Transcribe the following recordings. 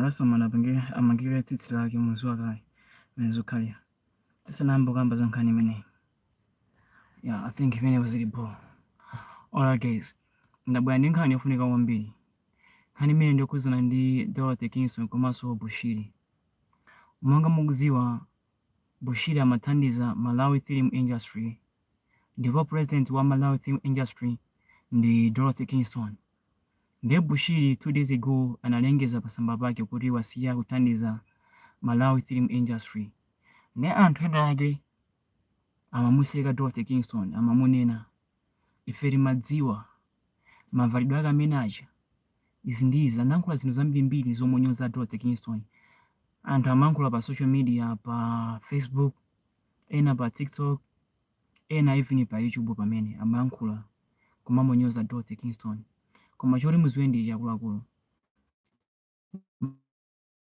rastaman apanga amangire tsitsi lake mudziwa kale mmene zokhalira tisanayamba kukamba za nkhani imeneyi yeah, i think pamenepa zili bho alright guys ndabwera ndi nkhani yofunika kwambiri nkhani imene ndiyokhudzana ndi dorothy kingston komanso bushiri monga mukudziwa bushiri amathandiza malawi film industry ndipo president wa malawi film industry ndi dorothy kingston nde bushiri 2 days ago analengeza pasamba pake kuti wasiya kuthandiza malawi film industry ne anthu ena ake amamuseka dorothy kingston amamunena ife timadziwa mavalidwe ake amene aja izi ndi izi anayankhula zinthu zambirimbiri zomunyoza dorothy kingston anthu amayankhula pa social media pa facebook ena pa tiktok ena even pa youtube pamene amayankhula kumamunyoza Dorothy Kingston koma choti muziwe ndi ichi akuluakulu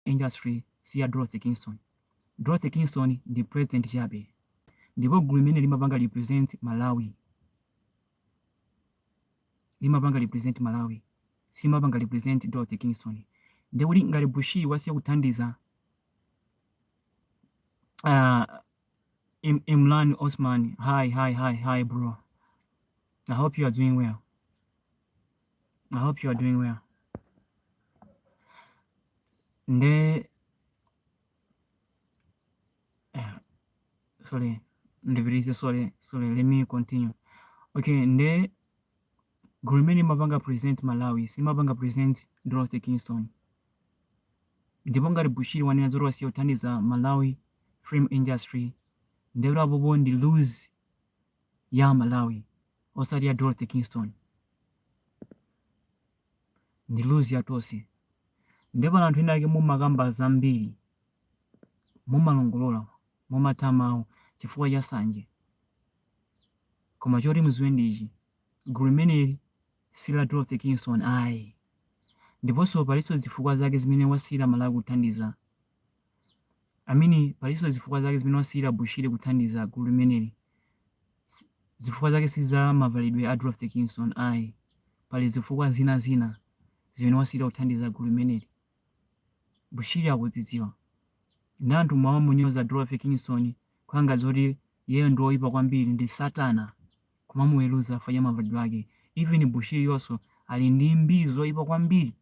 industry si ya Dorothy Kingston Dorothy Kingston ndi president chabe ndipo gulu limene limapanga represent Malawi limapanga represent Malawi silimapanga represent Dorothy Kingston ndikuti ngati Bushiri wasiya kuthandiza Uh, Im Imran Osman, hi, hi, hi, hi, bro. I hope you are doing well. I hope you are doing well. Nde, uh, sorry, ndibirize, sorry, sorry, let me continue. Okay, nde, Gurmeni Mabanga present Malawi, Simabanga present Dorothy Kingston. ndipo ngati Bushiri wanena zoti wasiya kuthandiza Malawi film industry ndiye kuti apopo ndi lose ya Malawi osati ya Dorothy Kingston ndi lose ya tonse ndiye pano anthu ena ake mumakamba zambiri mumalongolola mumatha mawu chifukwa cha sanje koma choti muziwe ndi ichi gulu limeneli si la Dorothy Kingston ayi. Ndiponso palinso zifukwa zake zimene wasiyira Malawi kuthandiza I mean palinso zifukwa zake zimene wasiyira Bushiri kuthandiza gulu limeneli. S- Zifukwa zake si za mavalidwe a Dorothy Kingston ayi. Pali zifukwa zina zina zimene wasiyira kuthandiza gulu limeneli. Bushiri akuzidziwa. Nde anthu mumamunyoza Dorothy Kingston kukhala ngati zoti iyeyo ndi oyipa kwambiri ndi satana kumamuweluza chifukwa cha mavalidwe ake. Even Bushiri yonso ali ndi mbiri zoyipa kwambiri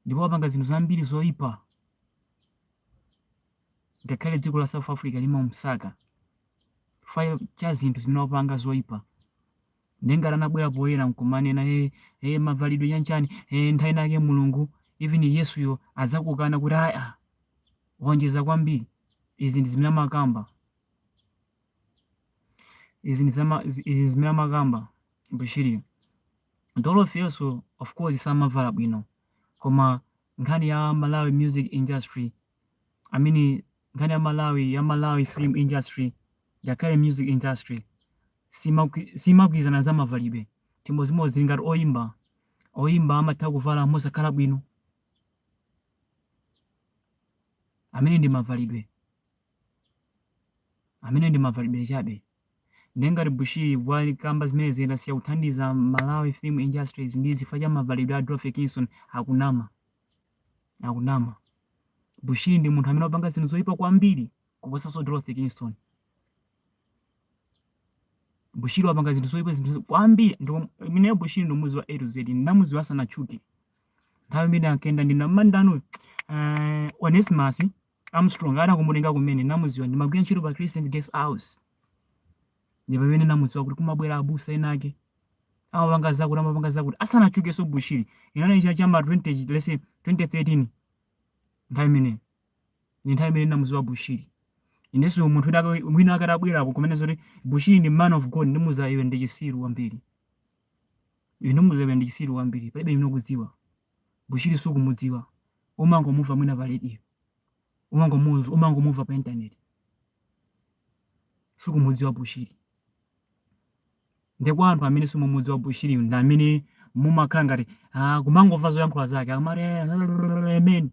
ndipo wapanga zinthu zambiri zoyipa ngakhale dziko la South Africa limamusaka chifukwa cha zinthu zimene wapanga zoyipa. Ndiye ngati anabwera poyera nkumanena hey, hey, mavalidwe chanchani hey, nthawi inayake Mulungu even Yesuyo adzakukana kuti aya waonjeza kwambiri. Izi ndi zimene amakamba, izi ndi zama, izi zimene amakamba Bushiri. Dorothy yes of course samavala bwino koma nkhani ya Malawi music industry I mean nkhani ya Malawi ya Malawi film industry ngakhale music industry simakwi- simakwirizana za mavalidwe chimodzimodzi zilingati oyimba oyimba amatha kuvala mosakhala bwino amene ndi mavalidwe amene ndi mavalidwe chabe Ndiye ngati Bushiri wakamba zimenezi zoti asiya kuthandiza Malawi film industries ndi zifukwa cha mavalidwe a Dorothy Kingston akunama. Akunama. Bushiri ndi munthu amene wapanga zinthu zoyipa kwambiri kuposanso Dorothy Kingston. Bushiri wapanga zinthu zoyipa zinthu kwambiri ndipo ine Bushiri ndomuziwa A to Z ndinamuziwa asanatchuke. Nthawi imene ankenda ndinamandano uh, Onesmus Armstrong anangomutenga kumene namuziwa ndimagwira ntchito pa Christian Guest House ndi pamene namuziwa kuti kumabwera abusa ena ake amapanga zakuti amapanga zakuti asanatchukenso Bushiri inali cha m'ma 20 let's say 2013 nthawi imeneyo ndi nthawi imene namuziwa Bushiri inenso munthu wina aka- mwina akatabwerako kumene zoti Bushiri ndi man of God ndikuuza iwe ndi chisiru kwambiri iwe ndikuuza iwe ndi chisiru kwambiri palibe ino kudziwa Bushiri sukumudziwa umangomumva mwina pa radio umangomumva pa internet sukumudziwa Bushiri nde kwa anthu amene simumudziwa Bushiri ndi amene mumakhala ngati ah, kumangomva zoyankhula zake akamati eh, amen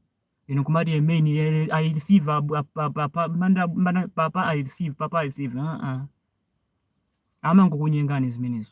inu kumati amen eh, i receive ah, ah, pa- pa- pa- manda- manda- papa i receive papa i receive ah, ah. amangokunyengani zimenezo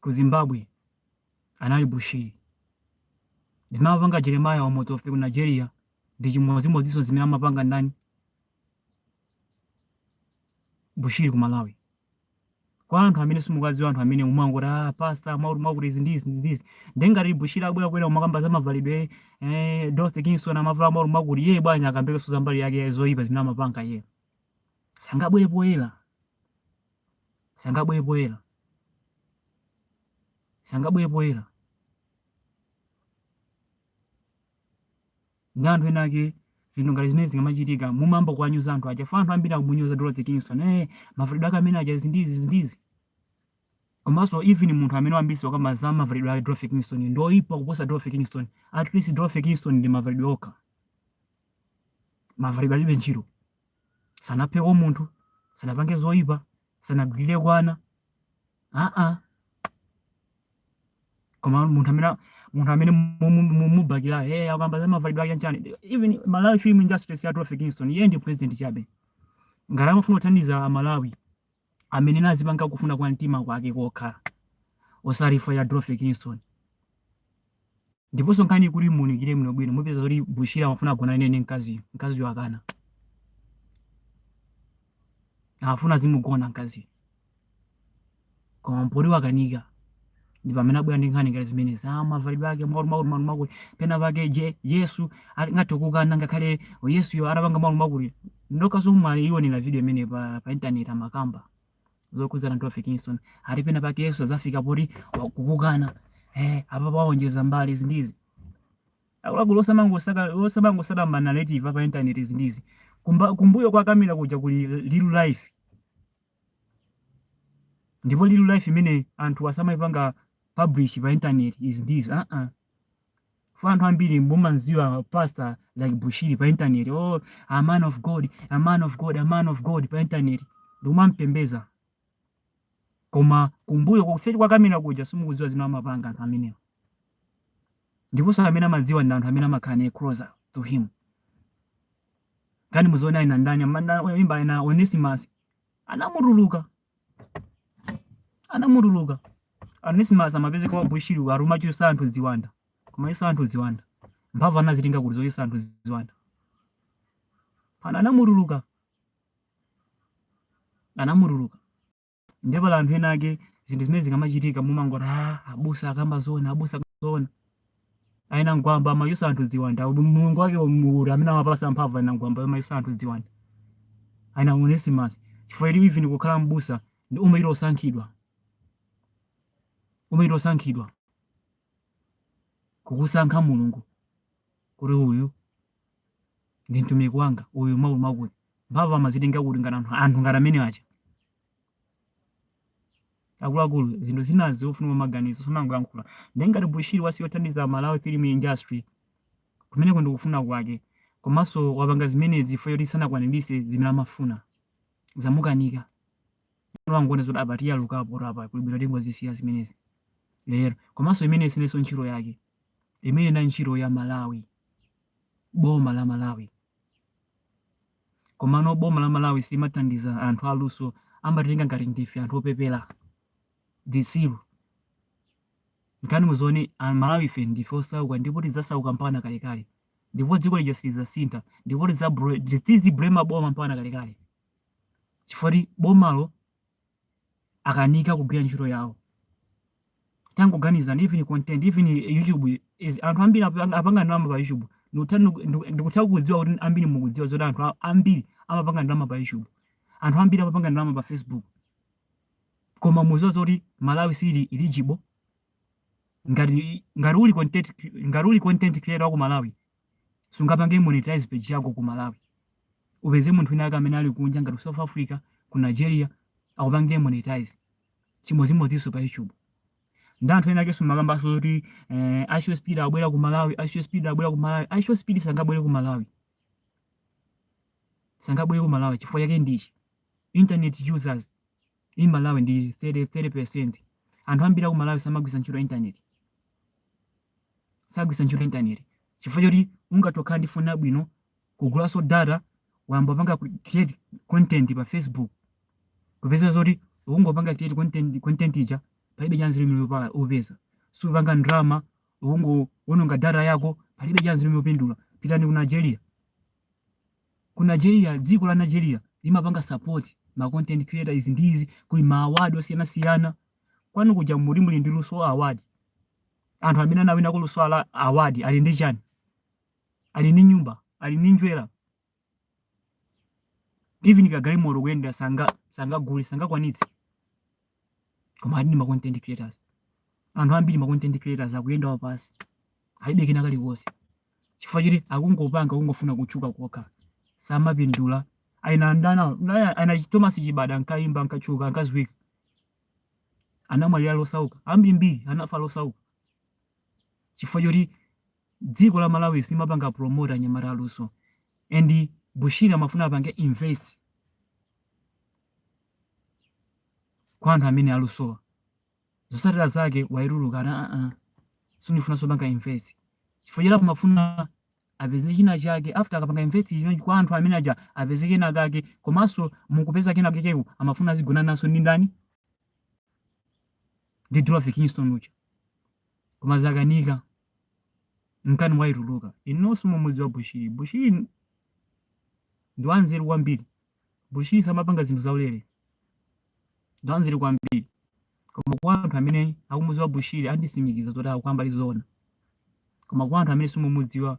ku Zimbabwe anali Bushiri. Zimene amapanga Jeremiah Omoto Fufeyin ku Nigeria ndi chimodzimodzinso zimene amapanga ndani? Bushiri ku Malawi. Kwa anthu amene simukudziwa anthu amene mumangoti ah pastor mwakuti mwakuti izi ndi izi ndi izi. Ndiye ngati Bushiri abwera kubwera kumakamba za mavalidwe eh Dorothy Kingston amavala mwakuti mwakuti iye bwanji akambekenso za mbali yake zoyipa zimene amapanga iye. Sangabwere poyera. sangabwere poyera sangabwere poyera nde anthu ena ake zinthu ngati zimene zikamachitika mumayamba kuwanyoza anthu aja fa anthu ambiri akumunyoza dorothy kingston eh mavalidwe ake amene aja zindizi zindizi komanso even munthu amene wambisi wakamba za mavalidwe ake dorothy kingston ndi oyipa kuposa dorothy kingston at least dorothy kingston ndi mavalidwe okha mavalidwe alibe ntchito sanapheko munthu sanapange zoyipa sanagwirireko ana aa koma munthu amene munthu amene mumubakira eh akamba za mavalidwe ake nchani even malawi film industry si ya Dorothy Kingston iyeyo ndi president chabe ngati amafuna kuthandiza amalawi amene amazipanga kufuna kwa mtima kwake kokha osati chifukwa cha Dorothy Kingston ndiponso nkhani kuti muunikire bwino bwino mupeza zoti Bushiri amafuna agonane ndi mkaziyo mkaziyo akana amafuna azimugona mkaziyo koma poti wakanika ndi pamene abwera ndi nkhani ngati zimenezi ah mavalidwe ake makuti makuti makuti makuti pena pake je yesu ali- ngati ukukana ngakhale yesuyo atapanga makuti makuti ndakhala ndikuionera video imene pa, pa intaneti amakamba zokhudzana ndi Dorothy Kingston ali pena pake yesu adzafika poti wa- kukukana eh apa paonjeza mbali zinthu izi akuluakulu osamangosaka osamangosaka manarrative apa intaneti zinthu izi Kumba- kumbuyo kwa kamera kuja kuli real life ndipo real life imene anthu asamaipanga publish pa internet is this uh -uh. for anthu ambiri mumamudziwa pastor like bushiri pa internet oh a man of god a man of god a man of god pa internet ndi kumampembedza koma kumbuyo kuseri kwa kamera kuja simukudziwa zimene amapanga anthu amenewa ndiponso amene amadziwa ndi anthu amene amakhala naye closer to him nkhani muziona ena ndani oyimba ena Onesimus anamutuluka anamutuluka Onesimus amapezeka kwa Bushiri akumachotsa anthu ziwanda kumachotsa anthu ziwanda mphamvu anazitenga kuti zochotsa anthu ziwanda pano anamutuluka anamutuluka Ndipo pali anthu ena ake zinthu zimene zikamachitika mumangoti ah, abusa akamba zoona, abusa akamba zoona. A ina Gwamba amachotsa anthu ziwanda. Mulungu wake ndi uti amene amapasa mphamvu a ina Gwamba amachotsa anthu ziwanda. A ina Onesimus chifukwa ili even kukhala mbusa umayenera osankhidwa. Umayenera osankhidwa. Kukusankha Mulungu kuti uyu ndi mtumiki wanga uyu mwakuti mwakuti mphamvu amazitenga kuti ngati anthu anthu ngati amene aja akuluakulu zinthu zina zikufunika maganizo samangoyankhula ndi ngati bushiri wasiya kuthandiza malawi film industry kumeneko ndikufuna kwake komanso wapanga zimenezi chifukwa choti sanakwaniritse zimene amafuna zamukanika wangoona zoti apa tiyalukapo apa kuli bwino tingozisiya zimenezi lero komanso imene ija sinso ntchito yake imene ija ntchito ya Malawi, boma la Malawi. Komano boma la Malawi silimathandiza anthu aluso, amatitenga ngati ndife anthu opepera zitsiru. Nkhani muzione a Malawi fe ndife osauka ndipo tidzasauka mpaka na kalekale, ndipo dziko lija silidzasintha, ndipo tizibulema boma mpaka na kalekale chifukwa choti bomalo akanika kugwira ntchito yawo tangoganizani even content even youtube anthu ambiri apa- apanga ndalama pa youtube Ndikutha- ndiku- ndiku- ndikutha kudziwa kuti ambiri mukudziwa zoti anthu a- ambiri amapanga ndalama pa youtube anthu ambiri amapanga ndalama pa facebook koma muziwa zoti malawi sili eligible ngati ngati uli content ngati uli content creator wa ku malawi Sungapange monetize page yako ku Malawi. Upeze munthu wina wake amene ali kunja ngati ku South Africa, ku Nigeria akupangire monetize. Chimodzimodzinso pa YouTube. Ndi anthu ena akenso amakambanso zoti eh, IShowSpeed abwera ku Malawi, Asho Speed abwera ku Malawi. Asho Speed sangabwere ku Malawi. Sangabwere ku Malawi chifukwa chake ndi ichi. Internet users in Malawi ndi 30 30%. Anthu ambiri aku Malawi samagwiritsa ntchito internet. Sagwiritsa ntchito internet chifukwa choti ungathe kukhala ndi foni yabwino kugulanso data wayamba panga create content pa Facebook kupeza zoti ukungopanga create content content ija palibe chanzeru chimene upala upeza supanga ndalama ukungowononga data yako palibe chanzeru chimene upindula pitani ku Nigeria Ku Nigeria, dziko la Nigeria limapanga support ma content creator izi ndi izi kuli ma award osiyana siyana. Kwanu kuja muli muli ndi luso award. Anthu amene anawina ku luso ala award ali ndi chani? Ali ndi nyumba, ali ndi njira. Even kagalimoto koyendera sanga sangagule sangakwanitse. koma ali ndi ma content creators anthu ambiri ma content creators akuyenda wapansi alibe kena kalikonse chifukwa choti akungopanga akungofuna kutchuka kokha samapindula a ina ndani na- ana thomas chibada ankayimba ankatchuka ankadziwika anamwalira ali osauka ambirimbiri anafa ali osauka chifukwa choti dziko la malawi silimapanga promote anyamata aluso and bushiri amafuna apange invest kwa anthu amene alusowa zosatira zake waituluka ana a a sindifuna zopanga invest chifukwa cha iye amafuna apeze china chake after akapanga invest chinthu kwa anthu amene aja apeze kena kake komanso mu kupeza kena kakeko amafuna azigona naso ndi ndani ndi Dorothy Kingston uja koma zakanika nkhani waituluka inunso mumudziwa Bushiri Bushiri ndi wanzeru kwambiri Bushiri samapanga zinthu zaulere, ndwanzeru kwambiri koma kwa anthu amene akumudziwa Bushiri anditsimikiza zoti ndikukamba zoona koma kwa anthu amene simumudziwa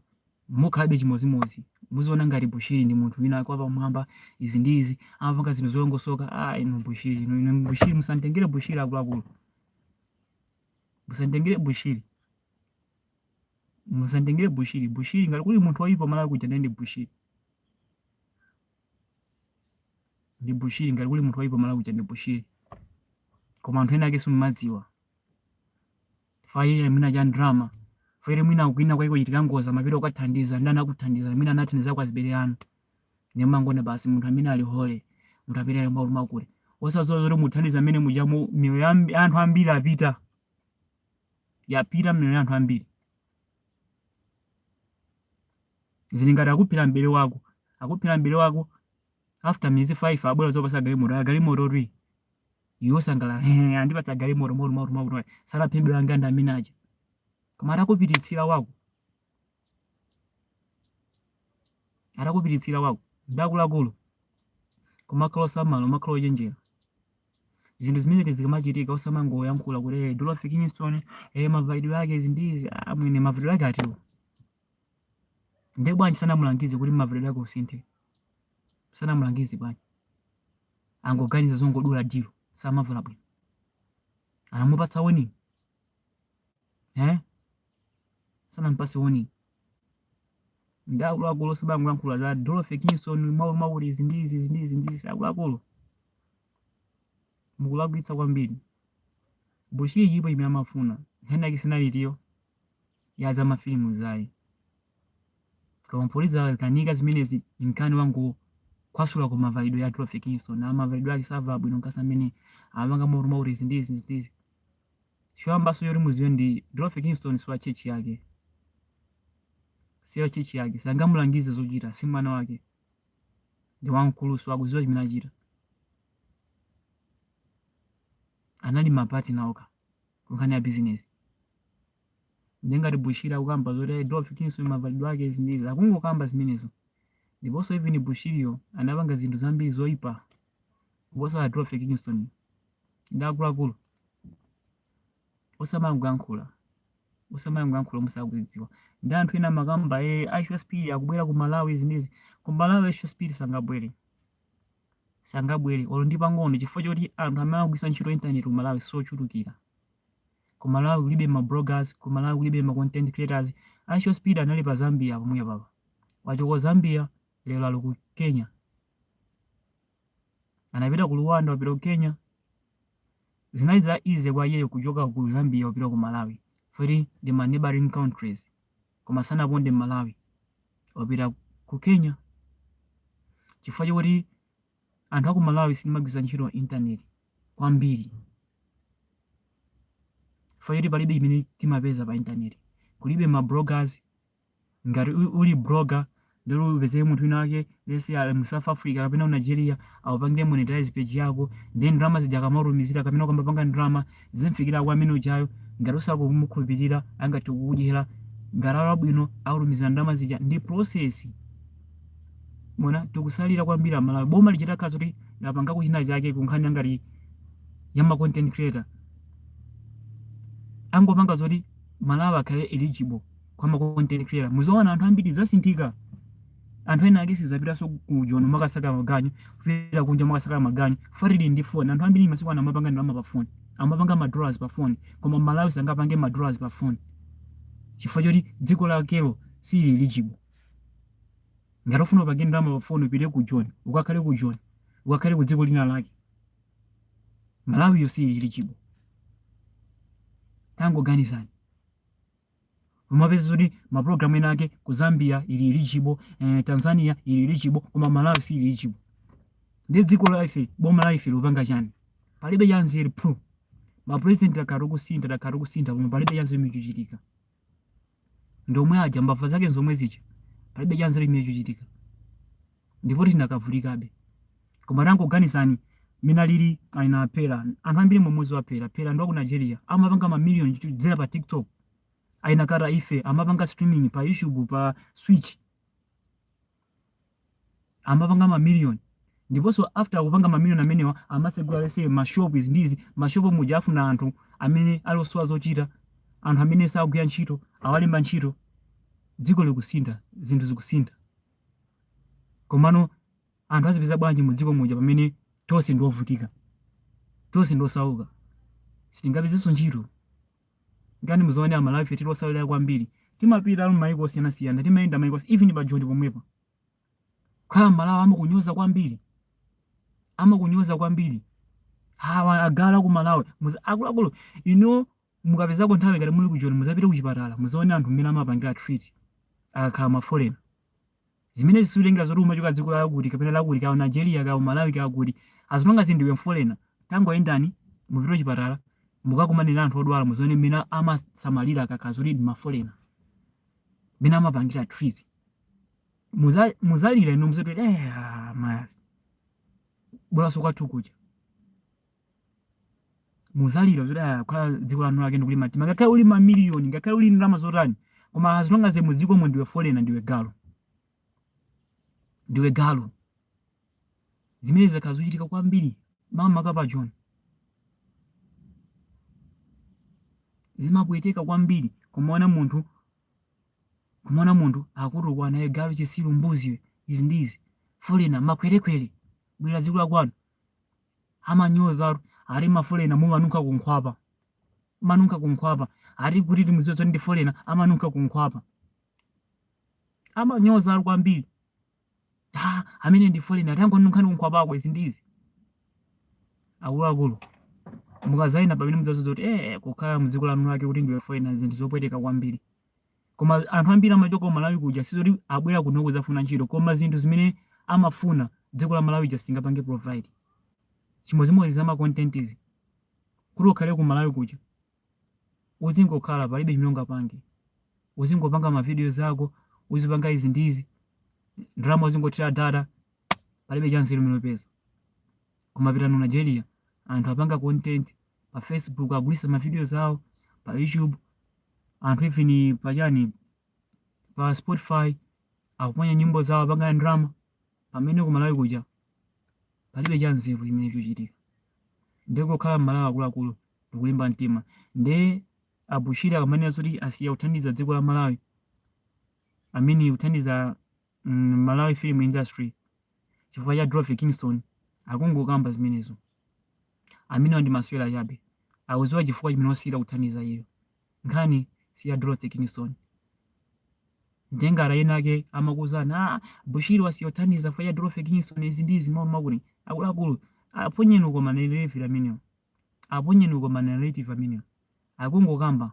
mukhalabe chimodzimodzi muziona ngati Bushiri ndi munthu winawake wapamwamba izi ndi izi amapanga zinthu zolongosoka ah inu Bushiri inu inu Bushiri musamutengere Bushiri akuluakulu musamutengere Bushiri musamutengere bushiri bushiri ngati kuli munthu oyipa malawi muno ndi bushiri ndi bushiri ngati kuli munthu oyipa malawi kuja ndi bushiri koma anthu ena ake simumadziwa fayire mwina cha drama fayire mwina kwina kwake kochitika ngozi amapita kukathandiza ndi anakuthandiza mwina anathandiza kwa azibale anu ndiye mumangoona basi munthu amene ali holy munthu amene ali mbaulu makule osadziwa zoti muthandiza amene mujamo miyoyo ya anthu ambiri yapita yapita miyoyo ya anthu ambiri. Zili ngati akuphera m'bale wako. Akuphera m'bale wako, after miyezi 5 abwera kudzakupatsa galimoto. Kaya galimototu iyi. Iwe wosangalala, "Ehe, andipatsa galimoto mwakuti mwakuti mwakuti. Sanaphe m'bale wanga ndi amene aja." Koma atakupititsira wako, atakupiritsira wako nde akuluakulu kumakhala osamala kumakhala ochenjera zinthu zimenezi zikamachitika osamangoyankhula kuti "Eh, Dorothy Kingston eh, mavalidwe ake izi ndi izi ah, mwina mavalidwe ake atiwo nde bwanji sanamulangize kuti mavalidwe ake usinthe sanamulangize bwanji angoganiza zongodula dilo samavala bwino anamupatsa woni eh? sanampase warning nde akuluakulu osamangolankhula za Dorothy Kingston mwakuti izi ndi izi izi ndi izi ndi izi akuluakulu mukulakwitsa kwambiri bushiri dilo imene amafuna nkhani yake sinalitu ya za mafilimu zayi koma mpoti zakanika zimenezi nkhani wangokasula ku mavalidwe a Dorothy Kingston mavalidwe ake savala bwino nkasa amene amapanga mwakuti mwakuti izi ndi izi izi ndi izi choyambanso choti muziwe Dorothy Kingston si wa church yake si wa church yake sangamulangize zochita si mwana wake ndi wamkuluso akuziwa chimene achita anali mapati nawo kunkhani ya business nde ngati bushiri akukamba zoti "Hey, Dorothy Kingston mavalidwe ake izi ndi izi akungokamba zimenezo ndiponso even bushiriyo anapanga zinthu zambiri zoyipa kuposa Dorothy Kingston nde akuluakulu osamangoyankhula osamangoyankhula musakudziwa nde anthu ena amakamba e ishowspeed akubwera ku malawi zimenezi ku malawi ishowspeed sangabwere sangabwere olo ndi pang'ono chifukwa choti anthu amene akugwisa ntchito internet ku malawi sochulukira ku malawi kulibe ma bloggers ku malawi kulibe ma content creators ishowspeed anali pa zambia pomwe apa wachoka zambia lero ali ku kenya anapita ku Rwanda wapita ku Kenya zinali za easy kwa iyeyo kuchoka ku Zambia wapita ku Malawi futi ndi ma neighboring countries koma sanaponde Malawi wapita ku Kenya chifukwa chakuti anthu aku Malawi sitimagwiritsa ntchito internet kwambiri chifukwa choti palibe chimene timapeza pa internet kulibe ma bloggers Ngati u- uli blogger ndiye upeze munthu wina wake let's say ali mu South Africa kapena ku Nigeria akupangire monetize page yako nde ndalama zija akamatumizira kapena ukamapanga ndalama zimafikira kwa amene ujayo ngati usakumukhulupirira angathe kukudyera ngati ali wabwino akutumizira ndalama zija ndi process mwaona tikutsalira kwambiri amalawi boma litakhala kuti lapanga china chake pa nkhani ngati ya ma content creator angopanga zoti malawi akhale eligible koma ma content creator muziona anthu ambiri asinthika anthu ena ake sazapitanso ku joni kumakasaka maganyu kupita kunja kumakasaka maganyu poti ali ndi foni anthu ambiri masiku ano amapanga ndalama pa foni amapanga madollars pa foni koma malawi sangapange madollars pa foni chifukwa choti dziko lakelo silili eligible ngati ufuna upange ndalama pa foni upite ku joni ukakhale ku joni ukakhale ku dziko lina lake malawiyo siili eligible tangoganizani umapeza kuti mapulogalamu ena ake ku zambia ili eligible eh, tanzania ili eligible koma malawi siili eligible ndi dziko la ife boma la ife likupanga chani palibe chanzeru phu mapurezidenti akhala akusintha takhala tikusintha koma palibe chanzeru chimene chikuchitika ndomwe aja mbava zake nzomwe zija palibe chanzeru chimene chikuchitika ndipo tidakavutikabe koma tangoganizani mmene alili akina peller anthu ambiri mukumudziwa peller peller ndi wa ku nigeria amapanga mamiliyoni kudzera pa tiktok akina carter efe amapanga streaming pa youtube pa twitch amapanga mamiliyoni ndiponso after kupanga mamiliyoni amenewa amatsegula let's say mashop izi ndi izi mashop muja afuna anthu amene ali osowa zochita anthu amene sakugwira ntchito awalemba ntchito dziko likusintha zinthu zikusintha Komano anthu azipeza bwanji mu dziko muja pamene tonse ndi ovutika, tonse ndi osauka, sitingapezenso ntchito? Ngati muzaone Amalawi ife tili otsalira kwambiri, timapita m'mayiko osiyanasiyana, timayenda mayiko onse, even pa Joni pomwepa. Kukhala Mmalawi amakunyoza kwambiri, amakunyoza kwambiri. Awa agalu aku Malawi, muza, akuluakulu inuyo mukapezako nthawi ngati muli ku joni muzapite kuchipatala muzaone anthu mmene amapangidwila treat akakhala ma foreigner zimenezi siutengera zoti umachoka dziko lakuti kapena lakuti kaya Nigeria kaya Malawi kaya kuti as long as ndiwe folena tangoyendani mupite kuchipatala mukakumane ndi anthu odwala muzione mmene amasamalira akakhala zoti ndi mafolena mmene amapangira treat muza muzalira inu muzati eh ah, ayi bolaso kwathu kuja muzalira kuti ah, kukhala dziko la eni ake ndikulimba mtima ngakhale uli mamiliyoni ngakhale uli ndalama zotani koma as long as mu dzikomo ndiwe folena ndiwe galu ndiwe galu zimene zakhala zikuchitika kwambiri makamaka pa joni zimapweteka kwambiri kumaona munthu kumaona munthu akutukwanidwa galu chisilu mbuzi izi ndizi folena makwerekwere bwerera dziko lakwanu amanyoza ati mafolena mumanunkha kunkhwapa mumanunkha kunkhwapa ati kuti timudziwe kuti ndi folena amanunkha kunkhwapa amanyoza ati kwambiri ati amene ndi folena tangonunkhizani kunkhwapako izi ndi izi akuluakulu mukazayenda mpamene mudzadziwe kuti eh kukhala mdziko la eni ake kuti ndiwe folena zinthu zopweteka kwambiri koma anthu ambiri amachoka ku malawi kuja sizoti amabwera kuno kuzafuna ntchito koma zinthu zimene amafuna dziko la malawi silingapange provide chimodzimodzi za macontent izi kuti ukhale ku malawi kuja uzingokhala palibe chimene ungapange uzingopanga mavidiyo zako uzipanga izi ndi izi ndalama uzingothera data palibe chanzeru chimene upeza koma pitani ku nigeria anthu akupanga content pa facebook akugulisa ma videos awo pa youtube anthu even pa chani pa spotify akuponya nyimbo zawo akupanga ndalama pamene ku malawi kuja palibe cha nzeru chimene chikuchitika ndiye kukhala mmalawi akuluakulu ndikulimba mtima nde abushiri akamanena zoti asiya kuthandiza dziko la malawi asiya kuthandiza mm, malawi film industry chifukwa cha dorothy kingston akungokamba zimenezo amenewa ndi masewera chabe akuziwa chifukwa chimene wasiyira kuthandiza iyo nkhani si ya dorothy kingston nde ngati ena ake amakuuzani ah, bushiri wasiya kuthandiza chifukwa cha dorothy kingston izi ndi izi amanama kuti akuluakulu aponyeni uko manarrative amenewo aponyeni uko manarrative amenewo akungokamba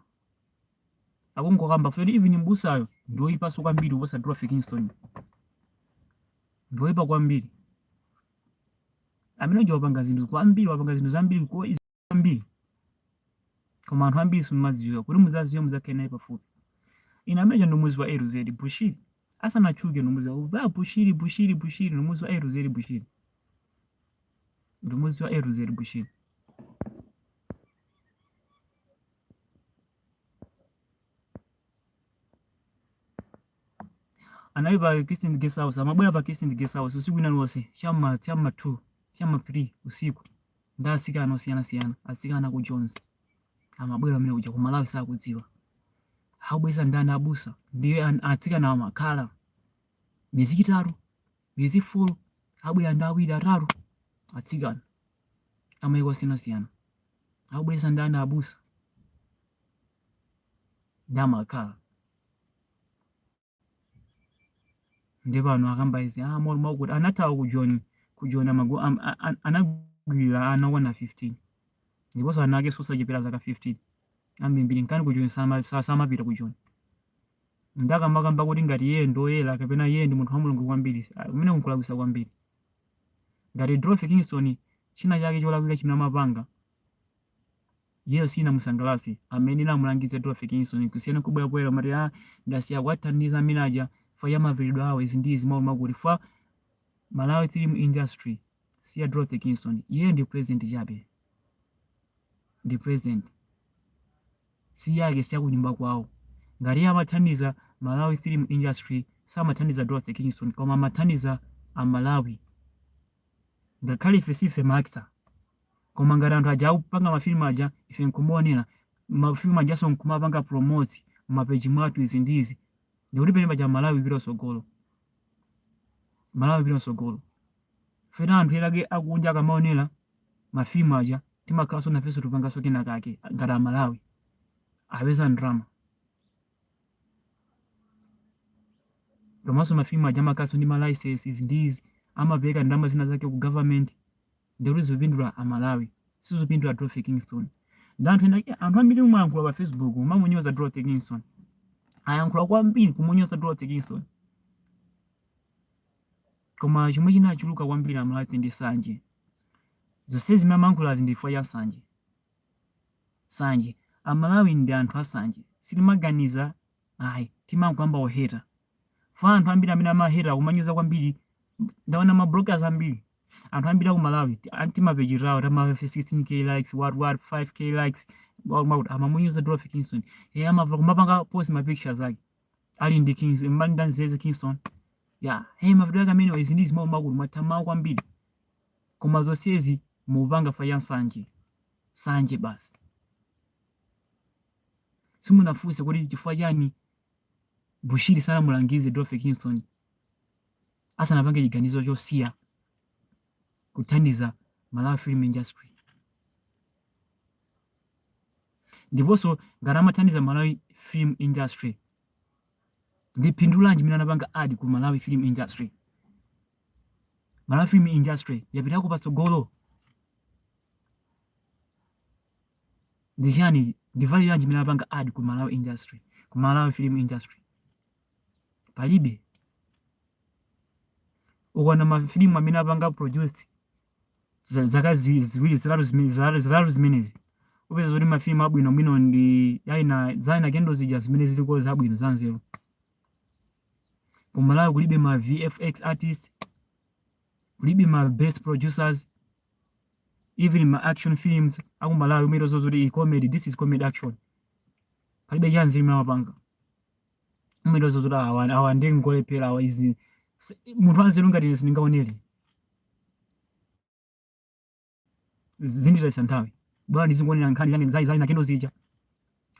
akungokamba kuti even mbusayo ndioyipaso kwambiri kuposa Dorothy Kingston ndioyipa kwambiri amene uja wapanga zinthu kwambiri wapanga zinthu zambiri zambiri koma anthu ambiri simumazidziwa kuti muzaziwe muzakhale naye pafupi ine amene uja ndimamuziwa LZ Bushiri asanatchuke ndimamuziwa Bushiri Bushiri Bushiri ndimamuziwa LZ Bushiri ndimamuziwa LZ Bushiri anali pa Christian guest house amabwera pa Christian guest house usiku wina ulionse cha m'ma cha m'ma 2 cha m'ma 3 usiku ndi atsikana osiyanasiyana atsikana a ku Joni amabwera amene kuja ku Malawi sakudziwa akubweretsa ndani abusa ndiye an- atsikana amakhala miyezi itatu miyezi folo abwera ndi awiri atatu atsikana amaiko osiyanasiyana akubweretsa ndani abusa ndiye amakhala ndi pano akamba izi ah molo makuti anathawa ku joni ku joni amago am- a- a- anagwira ana okwana 15 ndiponso ana ake sosachepera zaka 15 ambirimbiri nkani ku joni sama- sa- samapita ku joni ndikamakamba kuti ngati iye ndi oyera kapena iye ndi munthu wa mulungu kwambiri amene unkulakwisa kwambiri Ngati Dorothy Kingston chinachake cholakwika chimene amapanga, iyeyo sichinamusangalatse, akanamulangiza Dorothy Kingston kusiyana nkubwera poyera kumati ah ndasiya kuwathandiza amene aja fa ya mavalidwe awo izi ndi izi mawu makuti fa Malawi film industry si ya Dorothy Kingston iyeyo ndi president chabe ndi president siyake siyakunyumba kwawo ngati iye amathandiza malawi film industry samathandiza dorothy kingston koma amathandiza amalawi ngakhale ife sife maxa koma ngati anthu aja akupanga mafilimu aja ife nkumaonera mafilimu ajanso nkumapanga promote m'mapeji mwathu izi ndi izi ndikuti pene paja malawi ipita kusogolo malawi ipita kusogolo Pena anthu ena ake akunja akamaonera ma film aja timakhalanso nafenso tikupanganso kena kake ngati amalawi apeza ndrama komanso ma film aja amakhalanso ndi ma licenses ndi izi amapereka ndrama zina zake ku government ndikuti zikupindula amalawi sizikupindula dorothy kingston ndi anthu ena ake anthu ambiri mwayankhula pa facebook mwamunyoza dorothy kingston ayankhula kwambiri kumunyoza dorothy kingston Koma chomwe chinachuluka kwambiri amalawi ndi sanje. Zonsezi zimene amayankhulazi ndi chifukwa cha nsanje. Nsanje. Amalawi ndi anthu asanje. Sitimaganiza ayi. Timangoyamba kuheta. Fa anthu ambiri amene amaheta kumanyoza kwambiri ndaona ma bloggers ambiri. Anthu ambiri aku Malawi ti- an- timapeji tawo tama 16k likes what what 5k likes wa- wa- amamunyoza Dorothy Kingston. Iyeyo amamva kumapanga post ma pictures ake. ali ndi mimba ali ndi Zeze Kingston ya hey mavuto yake amenewa izi ndi zimene makulu mwatha mawu kwambiri koma zonsezi mukupanga fa cha nsanje sanje basi simunafunse kuti chifukwa chani Bushiri sanamulangize Dorothy Kingston asanapange chiganizo chosiya kuthandiza Malawi film industry ndiponso ngati amathandiza Malawi film industry ndi phindu lanji mene anapanga add ku Malawi film industry Malawi film industry yapitako patsogolo ndi chani ndi value yanji mene anapanga add ku Malawi industry ku Malawi film industry palibe ukaona mafilimu amene apanga produced za- zaka zi- ziwiri zitatu zime- zitatu zitatu zimenezi upeza kuti mafilimu abwino bwino ndi a Isa Isa Kendo zija zimene ziliko zabwino zanzeru kumalawi kulibe ma vfx artist kulibe ma best producers even ma action films akumalawi umangodziwa kuti iyi comedy this is comedy action palibe chanzeru chimene amapanga mwendo zozuta awa awa ndi ngolephera awa izi munthu wanzeru ngati ine sindingaonere zinditayitsa nthawi bola ndizingoonera nkhani zake zai zai nakendo zija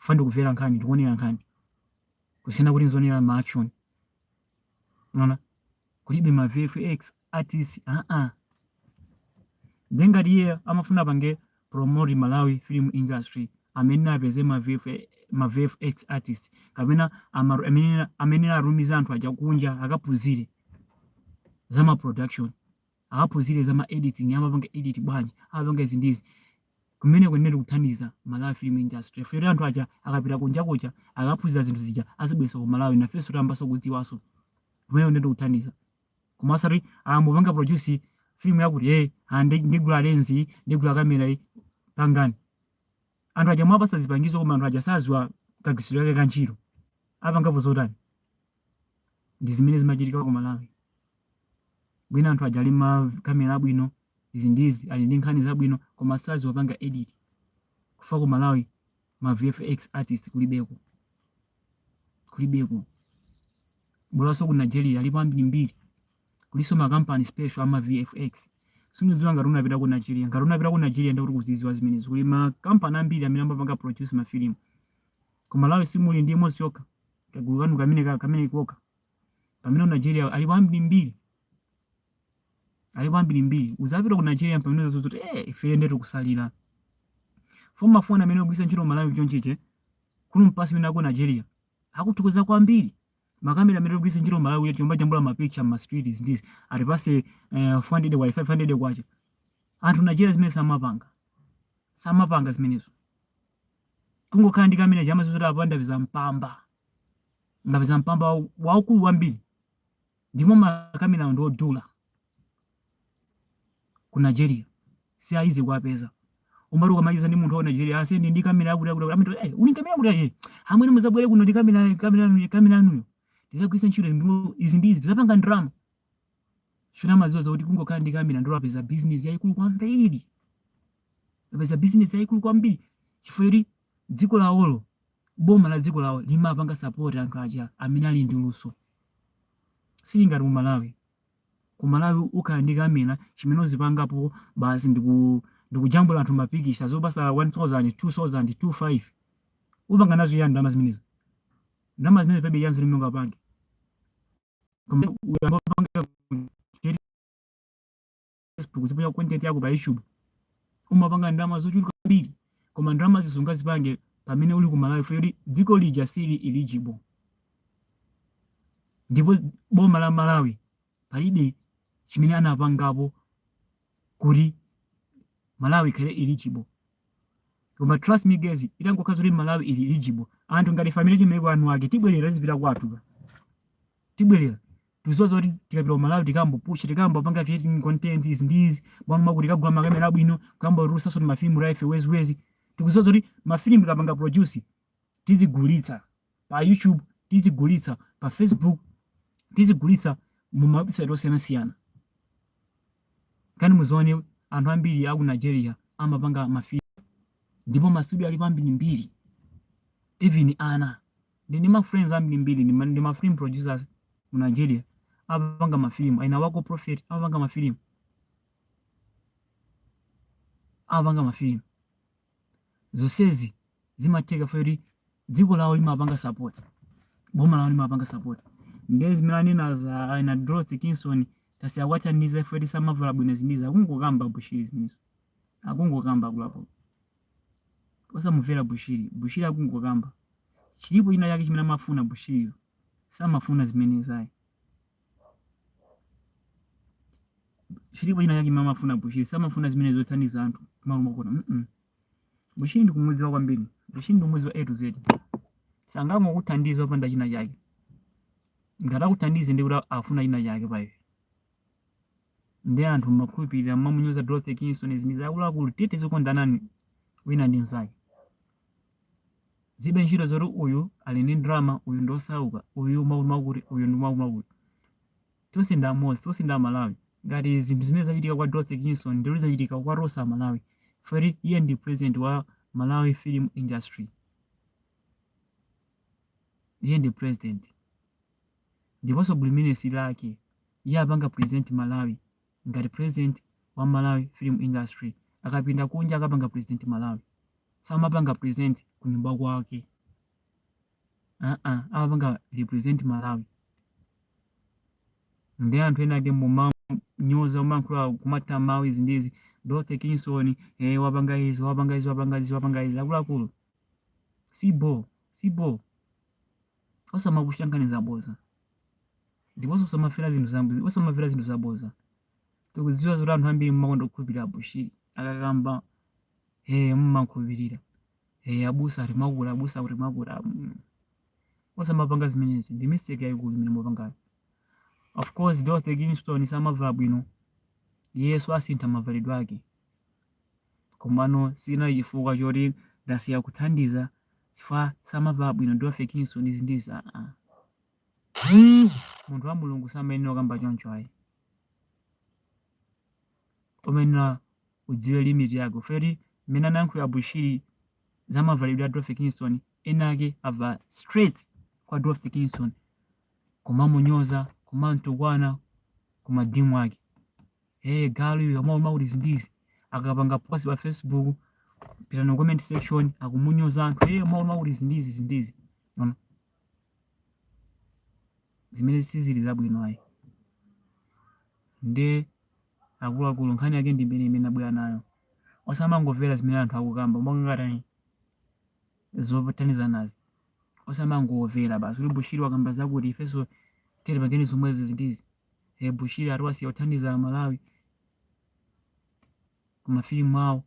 fa ndikumvera nkhani ndikuonera nkhani kusiyana kuti ndizionera ma action unaona kulibe ma vfx artist a ah, a ah. nde ngati iye amafuna apange promote malawi film industry amayenera apeze ma vfx ma VFX artist kapena amayenera atumize anthu aja kunja akaphunzire za ma production akaphunzire za ma editing, amapanga edit bwanji, amapanga izi ndi izi. Kumeneko kunali kuthandiza Malawi film industry chifukwa choti anthu aja akapita kunja kuja akaphunzira zinthu zija azibweretsa ku Malawi nafenso tiyambanso kudziwanso. Kumeneko kunali kuthandiza. Koma osati kumapanga produce film yakuti eh ah, ndi- ndigula lens iyi, ndigula kamera iyi pangani. Anthu aja mwawapatsa zipangizo koma anthu aja sadziwa kagwiritsidwe kake ka ntchito. Apangapo zotani? Ndi zimene zimachitika ku Malawi. mwina anthu aja ali ma kamera abwino izi ndi izi ali ndi nkhani zabwino koma sadziwa kupanga edit chifukwa ku malawi ma vfx artist kulibeko kulibeko bolanso ku nigeria alipo ambirimbiri kulinso makampani special ama vfx sindidziwa ngati unapita ku nigeria ngati unapita ku nigeria ndikuti ukuzidziwa zimenezi kuli makampani ambiri amene amapanga produce mafilimu ku malawi simuli ndi imodzi yokha kagulu kanu kamene ka- kamene koka pamene ku nigeria alipo ambirimbiri alipo ambirimbiri ukapita ku nigeria pamene uzadziwa kuti eh ife nde tikutsalira fo mafoni amene timagwiritsa ntchito malawi chonchiche kuno mpasi imene aku nigeria akuthokoza kwambiri makamera amene timagwiritsa ntchito malawi kumajambula mapicha mmastreets nkuti atipatse eh, 400 kwacha 500 kwacha anthu nigeria zimenezo samapanga samapanga zimenezo kungokhala ndi kamera chamazuza kuti apanda viza mpamba ndapeza mpamba waukulu wambiri ndipo makamerawo ndi odula ku nigeria si easy kuwapeza umati ukamaliza ndi munthu wa ku nigeria ase ndi ndi kamera yakuti yakuti amati "Eh, uli kamera yakuti aye amwene muzabwere kuno ndi kamera kamera yanu- kamera yanuyo ndizagwiritsa ntchito ndipo izi ndi izi ndizapanga ndalama chona amaziwa zakuti kungokhala ndi kamera ndiye apeza business yayikulu kwambiri apeza business yayikulu kwambiri chifukwa choti dziko lawolo boma la dziko lawo limapanga sapoti anthu aja amene ali ndi luso sili ngati ku malawi ku malawi ukhala ndi kamera chimene uzipangapo basi ndikujambula anthu mapikisha zopasa 1000 2000 25 upanga nazo yani ndalama zimenezo ndalama zimenezo palibe chanzeru chimene ungapange koma uyamba kupanga facebook uziponya content yako pa youtube umapanga ndalama zochuluka kwambiri koma ndalama sungazipange pamene uli ku malawi poti dziko lija sili eligible ndipo boma la malawi palibe chimene anapangapo kuti malawi ikhale eligible koma trust me guys itangokhala zoti malawi ili eligible anthu ngati family tili maiko anu ake tibwerera tizipita kwathu tibwerera tikuziwa zoti tikapita ku malawi tikambopusha tikambopanga creating content izi ndi izi bwana makuti tikagula makamera abwino kukambotulusanso ndi mafilimu life weziwezi tikuziwa zoti mafilimu tikapanga produce tizigulitsa pa youtube tizigulitsa pa facebook tizigulitsa mu mawebsite osiyanasiyana kani muzione anthu ambiri aku nigeria amapanga mafilimu ndipo mastudio alipo ambirimbiri even ana ndi ndi ma friends ambirimbiri ndi ma, ndi ma film producers ku Nigeria amapanga ma film aina wako prophet amapanga ma film amapanga ma film zonsezi zimatheka poti dziko lawo limapanga support boma lawo limapanga support ndiye zimene anena za aina Dorothy Kingston tasiya kuwathandiza ife eti samavala bwino zinizi akungokamba bushiri zimenezo akungokamba kulapo osamumvera bushiri bushiri akungokamba chilipo china chake chimene amafuna bushiriyo samafuna zimenezo ayi chilipo china chake chimene amafuna bushiri samafuna zimene zothandiza anthu malo makona mm -mm. bushiri ndikumudziwa kwambiri bushiri ndikumudziwa a to z sangangokuthandiza opanda china chake ngati akuthandize ndikuti afuna china chake pa iwe ndi anthu mmakhulupirira mmamunyoza Dorothy Kingstone izi ndizi akuluakulu tiye tizikondanani wina ndi mnzake zilibe ntchito zoti uyu ali ndi ndalama uyu ndi osauka uyu mwakuti uyu ndi mwakuti tonse ndi amodzi tonse ndi amalawi ngati zinthu zimene zachitika kwa Dorothy Kingstone ndiye zachitika kwa tonse amalawi poti iye ndi president wa malawi film industry iye ndi president ndiponso buliminesi lake iye apanga present malawi ngati president wa malawi film industry akapita kunja akapanga present malawi samapanga present kunyumba kwake aa amapanga represent malawi ndi anthu ena ake mumanyoza kumayankhula kumatha mawu izi ndizi dorothy kingston eh, wapanga izi wapanga izi wapanga izi wapanga izi akuluakulu si bho si bho osamakonda nkhani zaboza ndiponso osamamvera zinthu zambiri osamamvera zinthu zaboza tikudziwa zoti anthu ambiri mmakonda kukhulupirira abushiri akakamba ee mmakhulupirira ee abusa ati makula abusa kuti makula mm. osamapanga zimenezi ndi mistake yayikulu imene mukupangayo of course dorothy kingston samavala bwino yes asinthe mavalidwe ake komano sichinali chifukwa choti ndasiya kuthandiza chifukwa samavala bwino dorothy kingston izi ndizi aa munthu wa mulungu samayenera kukamba choncho ayi umayenera udziwe limit yako poti mmene anayankhulira bushiri za mavalidwe a dorothy kingston ena ake abwera straight kwa dorothy kingston kumamunyoza kumamtukwana kuma DM ake hey galu iwe umavala mwakuti zindizi akapanga post pa facebook pitani mu comment section akumunyoza anthu hey umavala mwakuti zindizi zindizi ona zimene sizili zabwino ayi nde akuluakulu nkhani yake ndi imeneyo imene ndabwera nayo osamangomvera zimene anthu akukamba mongatani zotanizanazi osamangomvera basi kuti bushiri wakamba zakuti ifenso tiri pangeni zomwezi zindizi eh, bushiri ati wasiya kuthandiza amalawi kumafilimu awo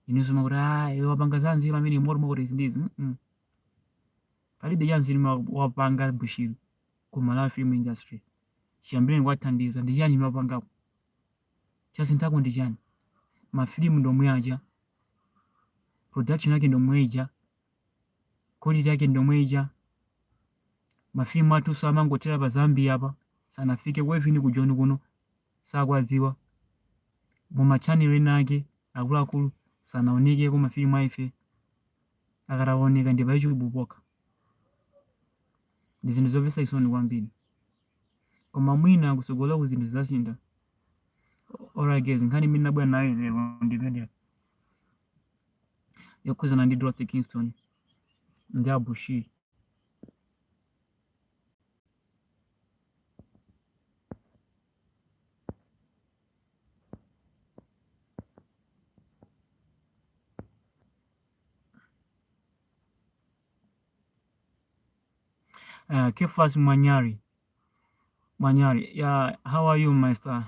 inunso mukuti "Ah, iwe wapanga za nzeru amene moti mwakuti izi ndizi Mm, mm. palibe cha nzeru ma- wapanga bushiri ku malawi film industry chiyambireni kuwathandiza ndi chani imene wapangapo chasinthako ndi chani mafilimu ndi omwe aja production yake ndi yomwe ija Quality yake ndomwe ija. Ma film athu so amangothera pa Zambia apa. Sanafike ku even ku Joni kuno. Sakwadziwa. Mu ma channel ena ake akuluakulu sanaonekeko ma film a ife. Akataoneka ndi pa YouTube pokha. Ndi zinthu zomvetsa chisoni kwambiri. Koma mwina kutsogoloku zinthu zidzasintha. Alright guys, nkhani imene ndabwera nayo lero ndi imeneyo. yokhuzana ndi dorothy kingston ndi abushir uh, Kefas Manyari. Manyari, yeah, how are you, Master?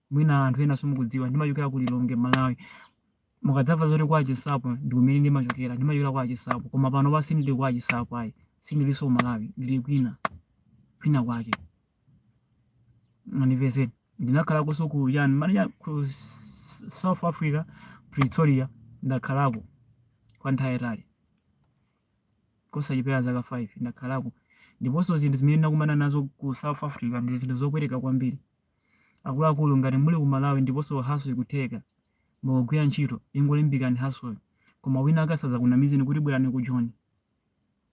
mwina anthu ena simukudziwa ndimachokera ku lilongwe malawi mukadzamva zoti kwa achisapo ndi kumene ndimachokera ndimachokera kwa achisapo koma panopa sindili kwa achisapo ayi sindilinso ku malawi ndili kwina kwina kwake manipeze ndinakhalakonso ku uja ni manaja ku S- south africa pretoria ndakhalako kwa nthawi yatali kosachepera zaka 5 ndakhalako ndiponso zinthu zimene ndinakumana nazo ku south africa ndi zinthu zopweteka kwambiri Akuluakulu ngati muli ku Malawi ndiponso hustle ikutheka, mukugwira ntchito, ingolimbikirani hustleyo. Koma wina wake asadzakunamizeni kuti bwerani ku Joni,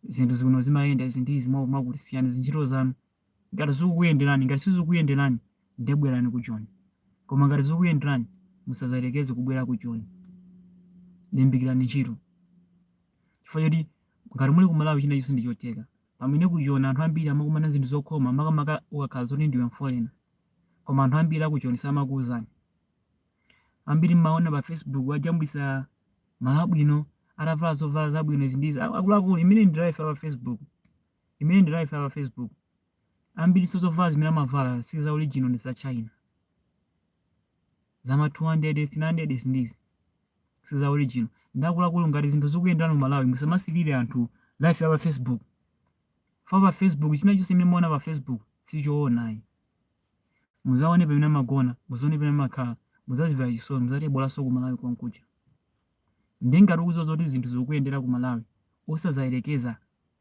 zinthu za kuno zimayenda izi ndi izi mwakuti, siyani zintchito zanu ngati zikukuyenderani. Ngati sizikukuyenderani ndiye bwerani ku Joni. Koma ngati zikukuyenderani, musadzayerekeze kubwera ku Joni. Limbikirani ntchito chifukwa choti ngati muli ku Malawi china chonse ndi chotheka. Pamene ku Joni anthu ambiri amakumana ndi zinthu zokhoma makamaka ukakhala zoti ndiwe mfolena koma anthu ambiri aku Joni samakuuzani. Ambiri mmaona pa Facebook ajambulisa malo abwino, atavala zovala zabwino izi ndi izi. A- Akuluakulu imene ndi life ya pa Facebook. Imene ndi life ya pa Facebook. Ambiri so zovala zimene amavala si za original ndi za China. za ma 200 300 izi ndi izi si za original ndakuluakulu ngati zinthu zikuyenderani ku malawi musamasilire anthu life ya pa facebook fa pa facebook china chonse imene muona pa facebook sichoona ayi muzaone pamene amagona muzaone pamene amakhala muzazivera chisoni muzati bolaso ku malawi konkuja ndi ngati ukudziwa zoti zinthu zikuyendera ku malawi osazayerekeza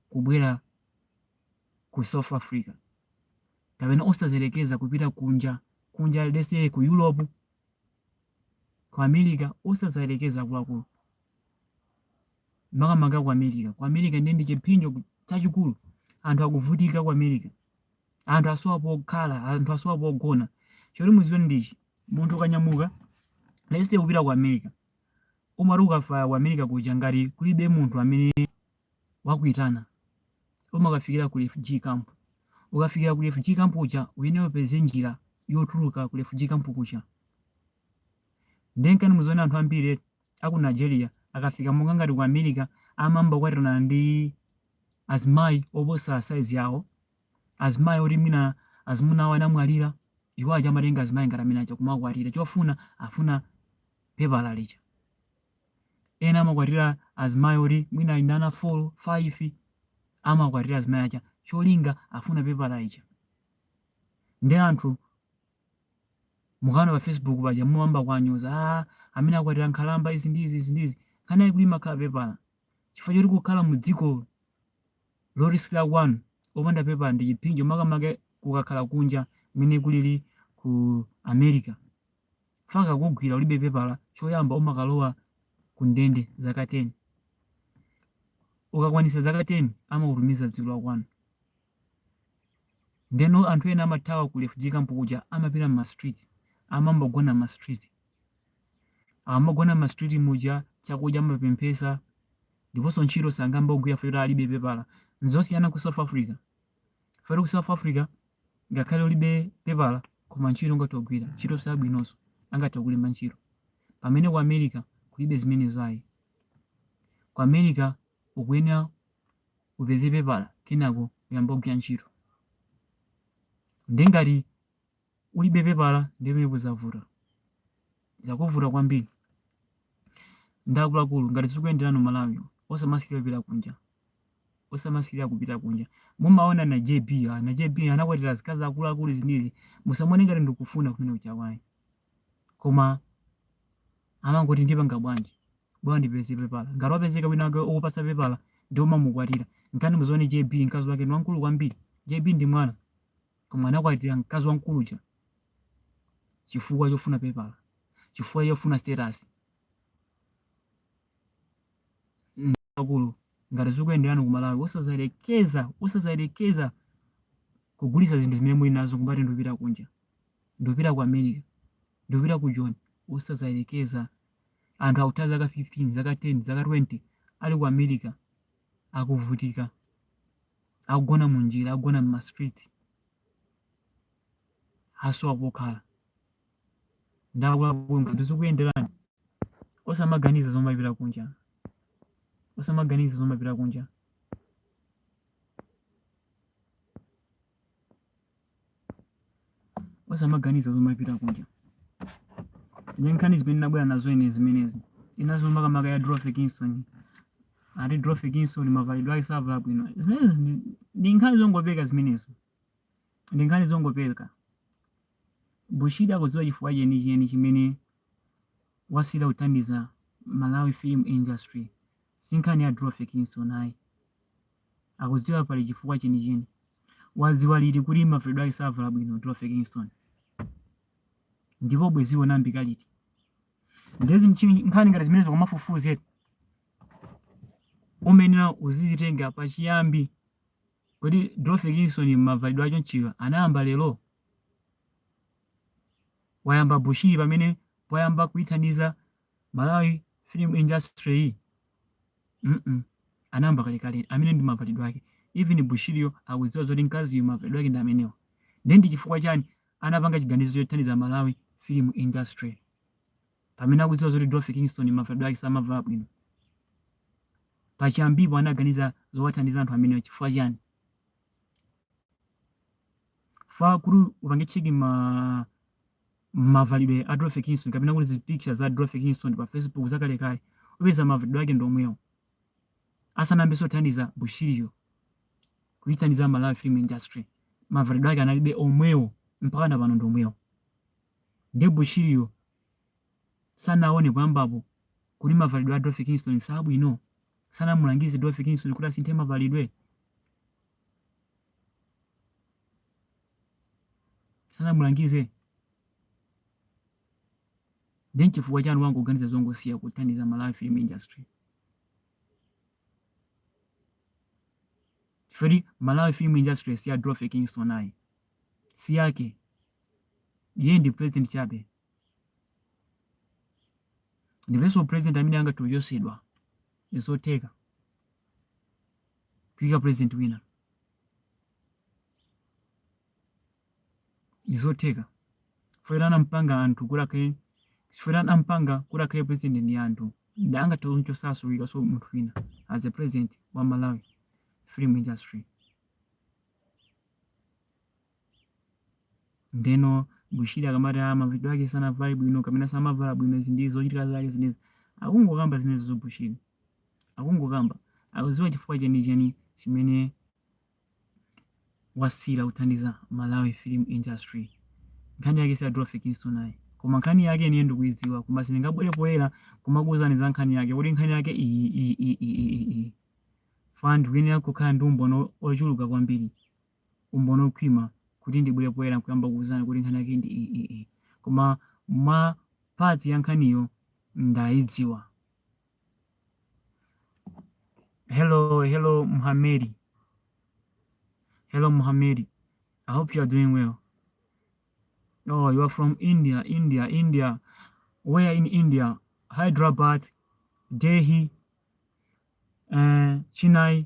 kubwera ku South Africa, kapena osazayerekeza kupita kunja kunja let's say ku Europe, ku America osazayerekeza akuluakulu makamaka ku America. Ku America ndiye ndi chiphinjo chachikulu, anthu akuvutika ku America, anthu asowa pokhala, anthu asowa pogona. Choti muziwe ndichi, munthu ukanyamuka let's say kupita ku America, umati ukafika ku America kuja ngati kulibe munthu amene wakuitana umakafikira ku refugee camp ukafikira ku refugee camp uja uyenera upeze njira yotuluka ku refugee camp kuja nde nkhani muzione anthu ambiri aku nigeria akafika monga ngati ku america amayamba kukwatirana ndi azimayi oposa saizi yawo azimayi oti mwina azimuna awo anamwalira iwo aja amatenga azimayi ngati amene aja kumakwatira chofuna afuna pepala lija ena amakwatira azimayi oti mwina ali ndi ana 4 5 amakwatira azimayi aja cholinga afuna pepala lija nde anthu mukamaona pa facebook paja mumayamba kuwanyoza ah, amene akwatira nkhalamba izi ndi izi izi ndi izi nkhani yake yoti imakhala pepala chifukwa choti kukhala mu dziko loti si la kwanu opanda pepala ndi chiphinjo makamaka kukakhala kunja kumene kulili ku america Chifukwa akakugwira ulibe pepala, choyamba umakalowa ku ndende zaka 10. Ukakwanisa zaka 10 amakutumiza dziko la kwanu. Ndeno anthu ena amathawa ku refugee camp kuja amapita mma street, amayamba kugona mma street. Akamagona mma street muja chakudya amapemphesa ndiponso ntchito sangayambe kugwira chifukwa choti alibe pepala. Nzosiyana ku South Africa. Chifukwa ku south africa ngakhale ulibe pepala koma ntchito ngati ogwira ntchito zabwinozo angathe kukulemba ntchito pamene ku america kulibe zimenezo ayi ku america ukuyenera upeze pepala kenako uyambe kugwira ntchito nde ngati ulibe pepala ndiye pamenepo zavuta zakuvuta kwambiri nde akuluakulu ngati zikuyenderani ku malawi osamasirira kupita kunja osamasirira kupita kunja mumaona ana jb ah, ana jb anakwatira azikazi akuluakulu izi ndi izi musamaone ngati ndikufuna kumene ujaku ayi koma amangoti ndipanga bwanji bwanji ndipeze pepala ngati wapezeka wina wake okupasa pepala nde umamukwatira nde nkhani muzione jb mkazi wake ni wamkulu kwambiri jb ndi mwana koma anakwatira mkazi wamkulu uja chifukwa chofuna pepala chifukwa chofuna status akulu ngati zikuyenderani ku malawi osazayerekeza osazayerekeza kugulitsa zinthu zimene muli nazo kumati ndikupita kunja ndikupita ku america ndikupita ku joni osazayerekeza anthu akutha zaka 15 zaka 10 zaka 20 ali ku america akuvutika akugona munjira akugona mma street asowa kokhala nde akuluakulu ngati zikuyenderani osamaganiza zomapita kunja osamaganiza zomapita kunja osamaganiza zomapita kunja ndi nkhani zimene ndinabwera nazo ine zimenezi inanso makamaka ya Dorothy Kingston ati Dorothy Kingston mavalidwe ake savala bwino zimenezi ndi- ndi nkhani zongopeka zimenezo ndi nkhani zongopeka Bushiri akudziwa chifukwa chenicheni chimene wasiyira kuthandiza Malawi film industry si nkhani ya Dorothy Kingston ayi akudziwa pali chifukwa chenicheni wadziwa liti kuti mavalidwe ake savala bwino Dorothy Kingston ndipo bwezi iwo anayamba liti ndezi mchini nkhani ngati zimenezo kumafufuza uyenera uzizitenga pa chiyambi kodi Dorothy Kingston mavalidwe achonchiwa anayamba lero wayamba Bushiri pamene poyamba kuithandiza Malawi film industry-yi mm anayamba kalekale amene ndi mavalidwe ake even Bushiriyo akudziwa zoti mkaziyu mavalidwe ake ndi amenewa ndiye ndi chifukwa chani anapanga chiganizo chothandiza Malawi film industry pamene akudziwa zoti Dorothy Kingston mavalidwe ake samavala bwino pachiyambipo anaganiza zowathandiza anthu amenewa chifukwa chani fa kuti upange check ma Mavalidwe a Dorothy Kingston kapena kuti zi picture za Dorothy Kingston pa Facebook zakalekale upeza mavalidwe ake ndi omwewo. Asanayambenso kuthandiza Bushiriyo kuithandiza Malawi film industry mavalidwe ake analinso omwewo mpaka na pano ndi omwewo. Ndiye Bushiriyo sanaone poyambapo kuti mavalidwe a Dorothy Kingston si abwino? Sanamulangize Dorothy Kingston kuti asinthe mavalidwe? sanamulangize nde nchifukwa chani wangoganiza zongosiya kuthandiza malawi film industry chifukwa malawi film industry si ya Dorothy Kingston ayi si yake iye ndi president chabe ndiponso president amene angathe kuchotsedwa ndizotheka kuikika president wina ndi zotheka chifukwa choti anampanga anthu kuti akhale chifukwa choti anampanga kuti akhale president ndi anthu ndi angathe kumchotsanso kuikanso munthu wina as a president wa malawi film industry Ndeno Bushiri akamati ah mavalidwe ake sanavale bwino kapena samavala bwino izi ndi zochitika zake zimenezi. Akungokamba zimenezozo Bushiri. Akungokamba. Akudziwa chifukwa chenicheni chimene wasiyira kuthandiza Malawi film industry. Nkhani yake si ya Dorothy Kingston ayi. Koma nkhani yake yeniyo ndikuidziwa koma sindingabwere poyera kumakuuzani za nkhani yake kuti nkhani yake iyi iyi iyi iyi iyi iyi. Fana ndikuyenera kukhala ndi umboni ochuluka kwambiri umboni okhwima kuti ndibwere poyera nkuyamba kukuuzani kuti nkhani yake ndi iyi koma mwa part ya nkhaniyo ndayidziwa hello hello muhamedi hello muhamedi i hope you are doing well oh you are from india india india where in india hyderabad delhi uh, chennai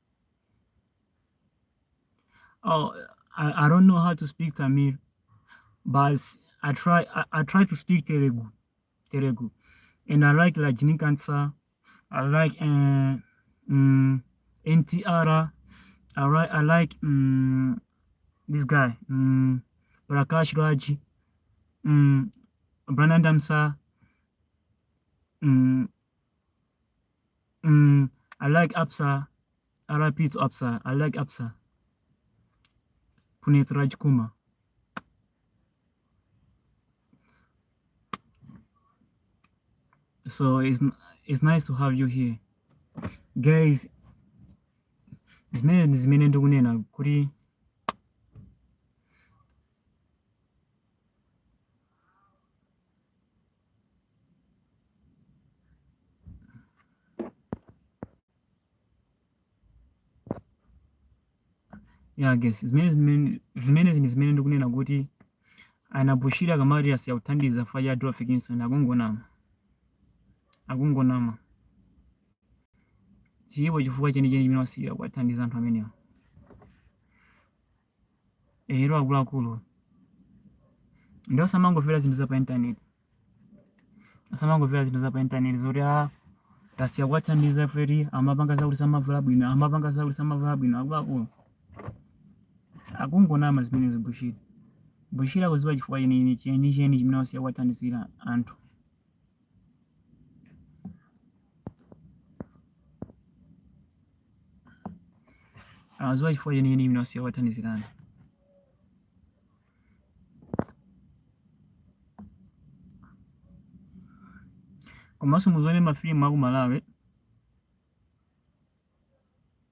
Oh, I, I don't know how to speak Tamil, but I try I, I try to speak Telugu, Telugu, and I like like Nikansa, I like uh, um, NTR, I like I like um, this guy um, Prakash Raji, um, Brandon Damsa, um, Mm, I like Apsa. RIP to Apsa. I like Apsa. Puneet Rajkumar. So it's it's nice to have you here, guys. Zimene zimene ndikunena kuti ya guys zimene zimene zimenezi ndi zimene ndikunena kuti a Bushiri akamati asiya kuthandiza chifukwa cha Adolf Kinson akungonama akungonama chilipo chifukwa chenicheni chimene asiyira kuwathandiza anthu amenewo ero akuluakulu ndi osamangomvera zinthu za pa intaneti osamangomvera zinthu za pa intaneti zoti a tasiya kuwathandiza poti amapanga zakuti samavala bwino amapanga zakuti samavala bwino akuluakulu akungonama zimenezi Bushiri akudziwa chifukwa chenicheni chimene wasiya kuwathandizira anthu akudziwa chifukwa chenicheni chimene wasiya kuwathandizira komanso muzione mafilimu aku malawi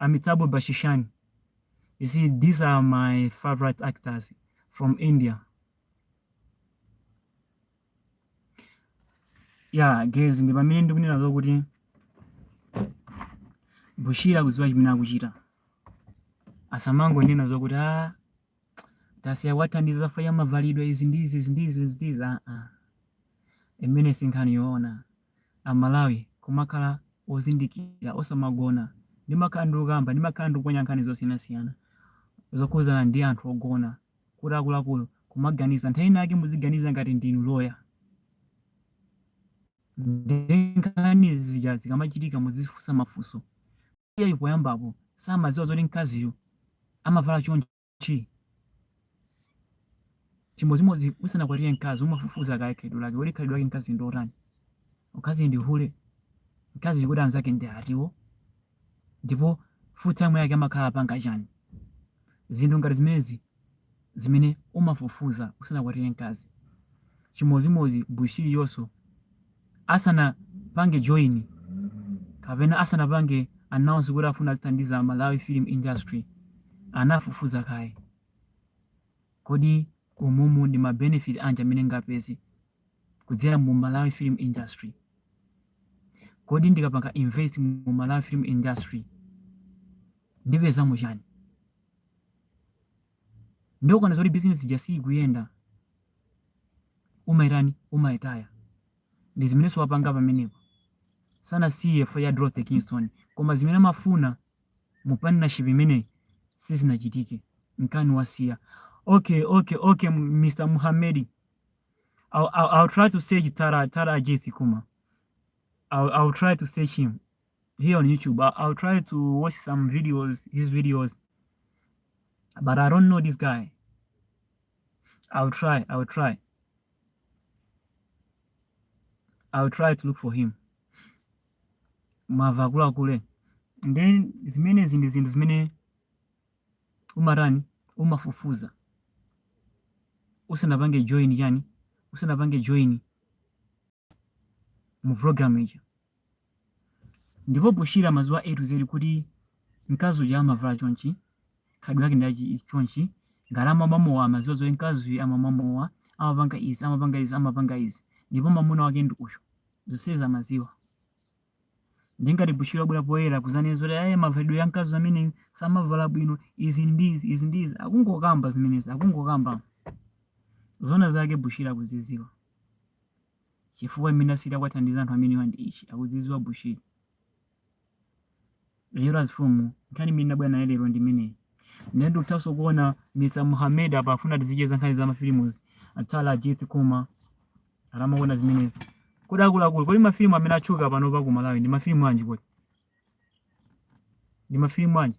Amitabh Bachchan you see these are my favorite actors from India yeah guys ndi pamene ndikunena zokuti Bushiri akudziwa chimene akuchita asamangonena zokuti ah tasiya kuwathandiza chifukwa cha mavalidwe izi ndi izi izi ndi izi izi ndi izi ah, ah. imeneyo si nkhani yoona amalawi kumakhala ozindikira osamagona ndimakhala ndikukamba ndimakhala ndikuponya nkhani zosiyanasiyana zokhudzana ndi anthu ogona kuti akuluakulu kumaganiza nthawi ina yake muziganiza ngati ndinu loya ndi nkhani zija zikamachitika muzifunsa mafunso iyeyo poyambapo samadziwa zoti mkaziyo amavala chonchi? Chimodzimodzi usanakwatire mkazi umafufuza kaye khalidwe lake. Kodi khalidwe lake mkaziyu ndi lotani? Mkazi ndi hule? Mkaziyu kodi anzake ndi ati? Ndipo free time yake amakhala apanga chani? Zinthu ngati zimenezi zimene umafufuza usanakwatire mkazi chimodzimodzi bushiri chonso asanapange join kapena asanapange announce kuti afuna azithandiza malawi film industry anafufuza kaye kodi umumu ndi mabenefit anji amene ndingapeze kudzera mu malawi film industry kodi ndikapanga invest mu malawi film industry ndipezamo chani ndiye ukaona zoti bizinesi ija siyikuyenda umaitani umaitaya ndi zimenenso wapanga pamenepa sanasiye ifo ya dorothy kingston koma zimene amafuna mu partnership imeneyi sizinachitike nkani wasiya okay okay okay M- mr muhamedi I'll, I'll, I'll try to search tara tara ajith kuma I'll, I'll try to search him here on YouTube. I'll, I'll try to watch some videos, his videos, but I don't know this guy. I'll try, I'll try. I'll try to look for him. Mava kula kule. And then zimene zinthu zinthu zimene umatani umafufuza usanapange join yani usanapange join mu program ija ndipo bushiri amaziwa a to z kuti mkazi uja amavala chonchi khalidwe lake ndi chonchi ngati amamwa mowa amaziwa zoti mkazi uyu amamwa mowa amapanga izi amapanga izi amapanga izi ndipo mamuna wake ndi uyu zonsezi amaziwa ndiye ngati bushiri wabwera poyera kuzanena zoti ayi mavalidwe a mkazi amene samavala bwino izi ndi izi izi ndi izi akungokamba zimenezi akungokamba zona zake bushiri akuziziwa Chifukwa chimene asiyira kuwathandiza anthu amenewa ndi ichi, akudzidziwa Bushiri. Lero amfumu, nkhani imene ndabwera nayo lero ndi imeneyi. Ndiye ndikuthanso kuona Mr. Mohamed apa akufuna tizicheza nkhani za mafilimuzi. Atsala Ajith Kuma. Ara amaona zimenezi. Kodi akuluakulu, kodi mafilimu amene atchuka panopa ku Malawi ndi mafilimu anji kodi? Ndi mafilimu anji?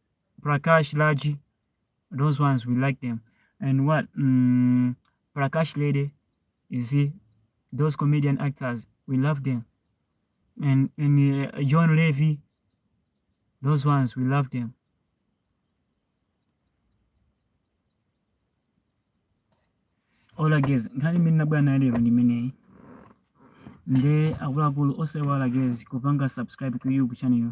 Prakash Raj, those ones we like them. And what um, Prakash Lady, you see, those comedian actors, we love them. And and uh, John Levy, those ones we love them. All again, nkhani imene nabwera nayo lero ndi imeneyi nde akuluakulu osewala guys kupanga subscribe ku youtube channel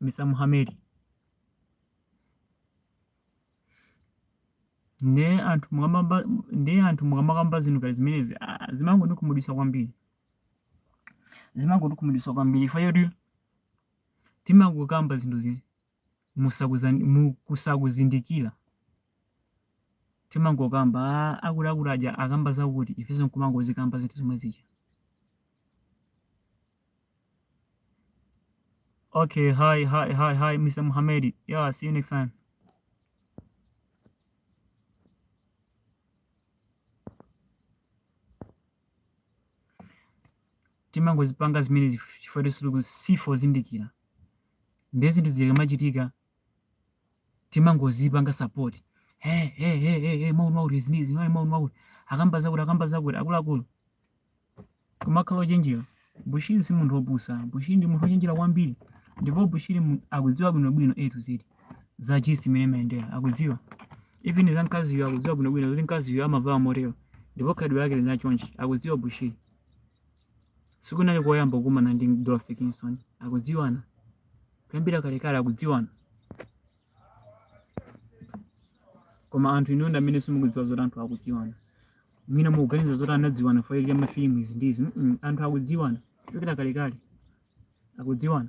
mr muhamedi nde anthu mukamamba nde anthu mukamakamba zinthu ngati zimenezi ah, zimangondikhumudwitsa kwambiri zimangondikhumudwitsa kwambiri chifukwa choti timangokamba zinthu zi musakuzan- mu- kusakuzindikira timangokamba "Ah, akuluakulu aja akamba zakuti ifenso nkumangozikamba zinthu zomwe zija Okay, hi, hi, hi, hi, Mr. Mohamedi. Yeah, see you next time. timangozipanga zimene chifukwa choti si kuti sife ozindikira ndiye zinthu zikamachitika timangozipanga support hey hey hey hey hey mawu mawu izi izi mawu mawu akamba zakuti akamba zakuti akuluakulu kumakhala ochenjera bushiri si munthu opusa bushiri ndi munthu ochenjera kwambiri ndipo bushiri mu- akudziwa bwinobwino a to z za chisi mmene imayendera akudziwa even za mkaziyo akudziwa bwinobwino kuti mkaziyo amavala motero ndipo khalidwe lake lili chonchi akudziwa bushiri Sikunali koyamba kukumana ndi Dorothy Kingston. Akudziwana kuyambira kalekale akudziwana. Koma anthu inuyo ndi amene simukudziwa zoti anthu akudziwana. Mwina mukuganiza zoti anadziwana chifukwa cha mafilimu izi ndi izi. Mm, anthu akudziwana kuchokera kalekale. Akudziwana.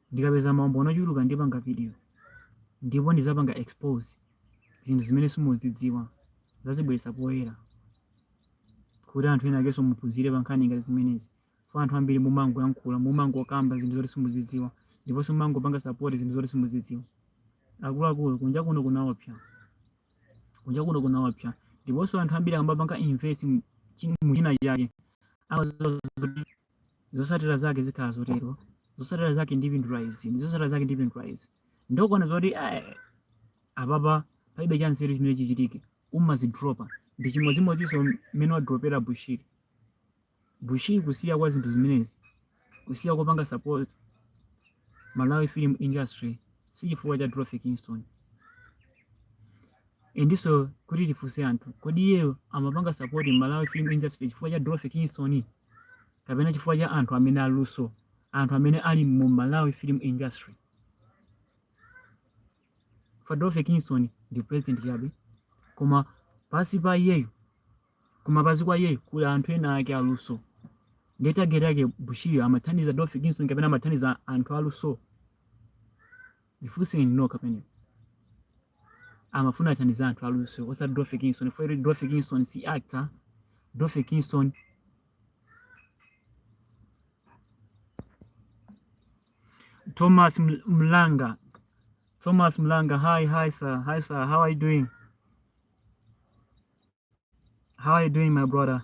Ndikapeza maumboni ochuluka ndipanga video ndipo ndizapanga expose zinthu zimene simuzidziwa nzazibweretsa poyera kuti anthu ena akenso muphunzire pankhani ngati zimenezi fa anthu ambiri mumangoyankhula mumangokamba zinthu zoti simuzidziwa ndiponso mumangopanga support zinthu zoti simuzidziwa akuluakulu kunja kuno kunaopsa kunja kuno kunaopsa ndiponso anthu ambiri amapanga invest muchina chake amaziwa zosatira zake zikhala zotero zosatira zake ndipindula izi ndi zosatira zake ndipindula izi ndiye akaona zoti eh, apapa palibe cha nzeru chimene chichitike amazidropa ndi chimodzimodzinso mmene wadropera bushiri bushiri kusiya kwa zinthu zimenezi kusiya kopanga support Malawi film industry si chifukwa cha Dorothy Kingston. Endenso kuti tifunse anthu, kodi iyeyo amapanga support Malawi film industry chifukwa cha Dorothy Kingston kapena chifukwa cha anthu amene aluso, anthu amene ali mu Malawi film industry? Fa Dorothy Kingston ndi president chabe, koma pansi pa iyeyo Koma pansi kwa iye kuli anthu ena ake aluso. Ndiye target yake Bushiri amathandiza Dorothy Kingston kapena amathandiza anthu aluso? Zifunseni nokha pamenepo. Amafuna athandiza anthu aluso osati Dorothy Kingston. Fa Dorothy Kingston si actor, Dorothy Kingston Thomas Ml- Mlanga. Thomas Mlanga, hi, hi sir, hi sir, how are you doing? How are you doing, my brother?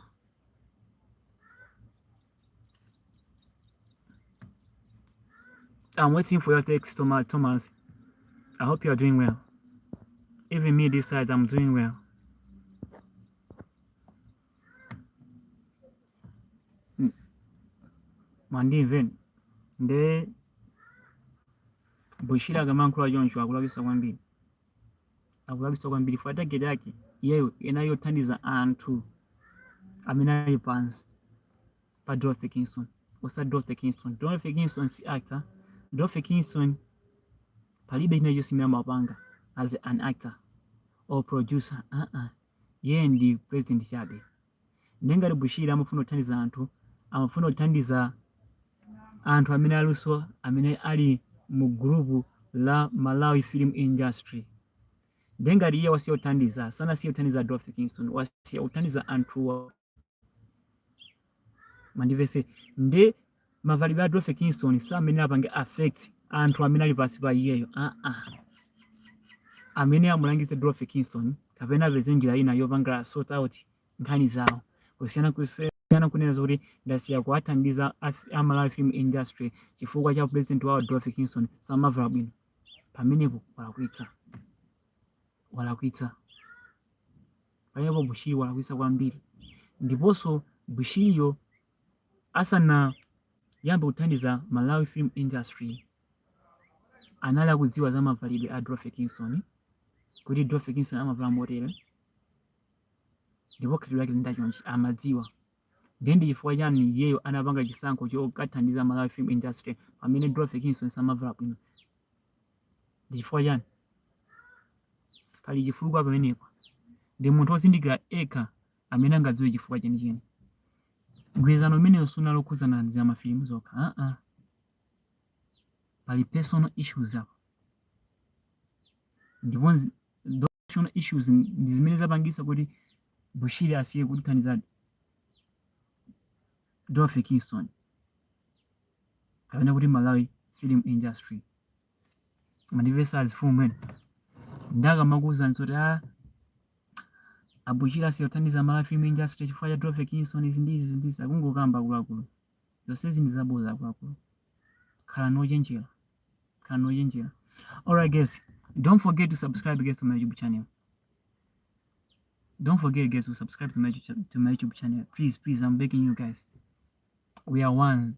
I'm waiting for your text, Thomas. I hope you are doing well. Even me this side, I'm doing well. Hmm. Mandi even de Bushira gaman kura John Shwa kula bisa wambi. akulakwitsa kwambiri chifukwa target yake iyeyo inali yothandiza anthu amene ali pansi pa Dorothy Kingston osati Dorothy Kingston Dorothy Kingston si actor Dorothy Kingston palibe china chonse chimene amapanga as an actor or producer uh -uh. yeye ndi president chabe Ndiye ngati Bushiri amafuna kuthandiza anthu, amafuna kuthandiza anthu amene aluso amene ali mu group la Malawi Film Industry. Ndiye ngati iye wasiya kuthandiza, sanasiye kuthandiza Dorothy Kingston, wasiya kuthandiza anthuwa. Mundimvetse. Ndiye mavalidwe a Dorothy Kingston samene apange affect anthu amene ali pansi pa iyeyo a a amulangize Dorothy Kingston kapena apeze njira ina yopanga sort out nkhani zawo kusiyana kusiyana kunena zoti ndasiya kuwathandiza a Malawi film industry chifukwa cha president wawo Dorothy Kingston samavala bwino pamenepo walakwitsa walakwitsa pamenepo Bushiri walakwitsa kwambiri ndiponso Bushiriyo asanayambe kuthandiza Malawi film industry anali akudziwa za mavalidwe a Dorothy Kingston kuti Dorothy Kingston amavala motere ndipo khalidwe lake limayenda chonchi amadziwa ndiye ndi chifukwa chani iyeyo anapanga chisankho chokathandiza Malawi film industry pamene Dorothy Kingston samavala bwino ndi chifukwa chani pali chifukwa pamenepa ndi munthu wozindikira ekha amene angadziwe chifukwa chenicheni. Mgwirizano umenewu sunali wokhudzana ndi za mafilimu zokha. Ah, ah. Pali personal issues apa. Ndipo nzi- those personal issues n- ndi zimene zapangitsa kuti Bushiri asiye kuthandiza Dorothy Kingston kapena kuti Malawi film industry. mundimvetsa mfumu mwene ndikamakuwuzani zoti a ah, a Bushiri asiya kuthandiza Malawi film industry chifukwa cha Dorothy Kingston izi ndi izi ndizi akungokamba akuluakulu zonsezi ndi zaboza akuluakulu khalani ochenjera khalani ochenjera alright guys don't forget to subscribe guys to my youtube channel don't forget guys to subscribe to my, to my youtube channel please please i'm begging you guys we are one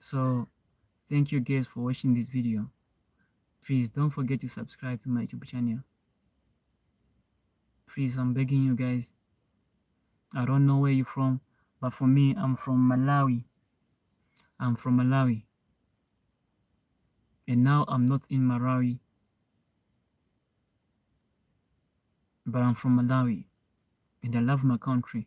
so thank you guys for watching this video please don't forget to subscribe to my youtube channel please i'm begging you guys i don't know where you're from but for me i'm from malawi i'm from malawi and now i'm not in malawi but i'm from malawi and i love my country